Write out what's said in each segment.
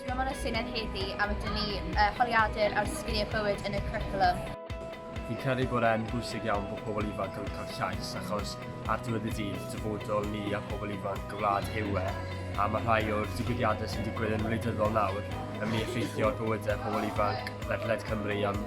Dwi am anodd syniad heddi am ydyn ni uh, holiadur ar sgiliau bywyd yn y cwricwlwm. Fi'n credu bod e'n bwysig iawn bod pobl ifanc yn cael llais achos ar diwedd y dydd, dyfodol ni a pobl ifanc y wlad yw e, a mae rhai o'r digwyddiadau sy'n digwydd yn wleidyddol nawr yn mynd i effeithio ar bywydau pobl ifanc ledled Cymru am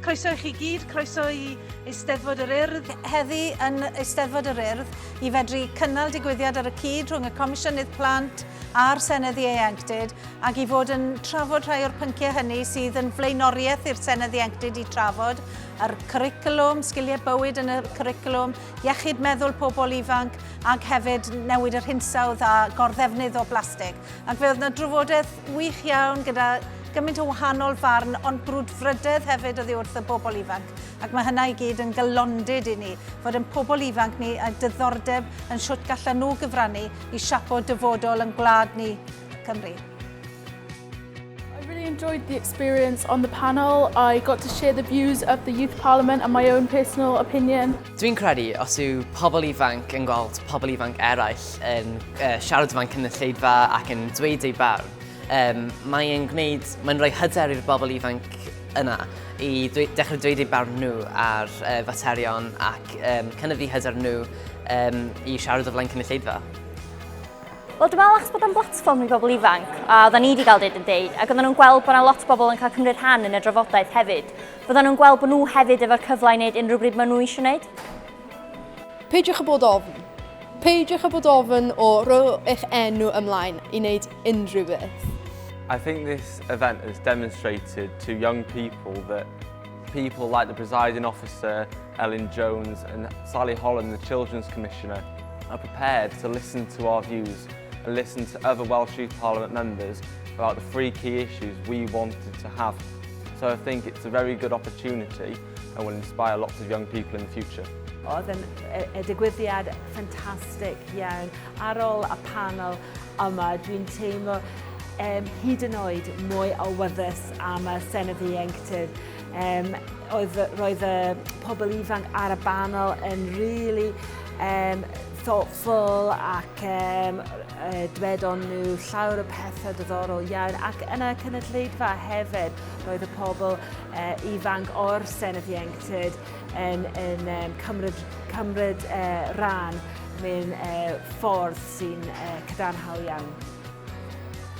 Croeso i chi gyd, croeso i Eisteddfod yr Urdd. Heddi yn Eisteddfod yr Urdd i fedru cynnal digwyddiad ar y cyd rhwng y Comisiynydd Plant a'r Senedd Ieuenctid ac i fod yn trafod rhai o'r pynciau hynny sydd yn flaenoriaeth i'r Senedd Ieuenctid i trafod yr cwricwlwm, sgiliau bywyd yn y cwricwlwm, iechyd meddwl pobl ifanc ac hefyd newid yr hinsawdd a gorddefnydd o blastig. Ac fe oedd yna drafodaeth Gwych iawn, gyda gymaint o wahanol farn, ond brwdfrydedd hefyd oddi wrth y bobl ifanc. Ac mae hynna i gyd yn galondid i ni, fod yn pobl ifanc ni a dyddordeb yn shwt gallan nhw gyfrannu i siapo dyfodol yn gwlad ni, Cymru. enjoyed the experience on the panel. I got to share the views of the Youth Parliament and my own personal opinion. Dwi'n credu os yw pobl ifanc yn gweld pobl ifanc eraill yn uh, siarad fan cynulleidfa ac yn dweud ei barn, um, mae'n gwneud, mae'n rhoi hyder i'r bobl ifanc yna i dweud, dechrau dweud eu barn nhw ar uh, faterion ac um, cynnyfu hyder nhw um, i siarad o flaen cynulleidfa. Wel, dwi'n meddwl achos bod o'n blatfform i bobl ifanc, a oedden ni wedi cael dweud yn deud, ac oedden nhw'n gweld bod yna lot o bobl yn cael cymryd rhan yn y drafodaeth hefyd. Fyddan nhw'n gweld bod nhw hefyd efo'r cyfle i wneud unrhyw bryd maen nhw eisiau wneud. Peidiwch â bod ofn. Peidiwch â bod ofn o roi eich enw ymlaen i wneud unrhyw beth. I think this event has demonstrated to young people that people like the presiding officer, Elin Jones, and Sally Holland, the Children's Commissioner, are prepared to listen to our views and listen to other Welsh Youth Parliament members about the three key issues we wanted to have So I think it's a very good opportunity and will inspire lots of young people in the future. Oedd yn e, e, digwyddiad ffantastig iawn. Ar ôl y panel yma, dwi'n teimlo um, hyd yn oed mwy o wyddys am y Senedd Ieuenctid. Um, oedd, roedd y pobl ifanc ar y banel yn really um, thoughtful ac um, Dywedon nhw llawer o pethau diddorol iawn ac yn y cynulleidfa hefyd roedd y pobl ifanc o'r Senedd Ieuenctid yn cymryd rhan mewn ffordd sy'n cadarnhaol iawn.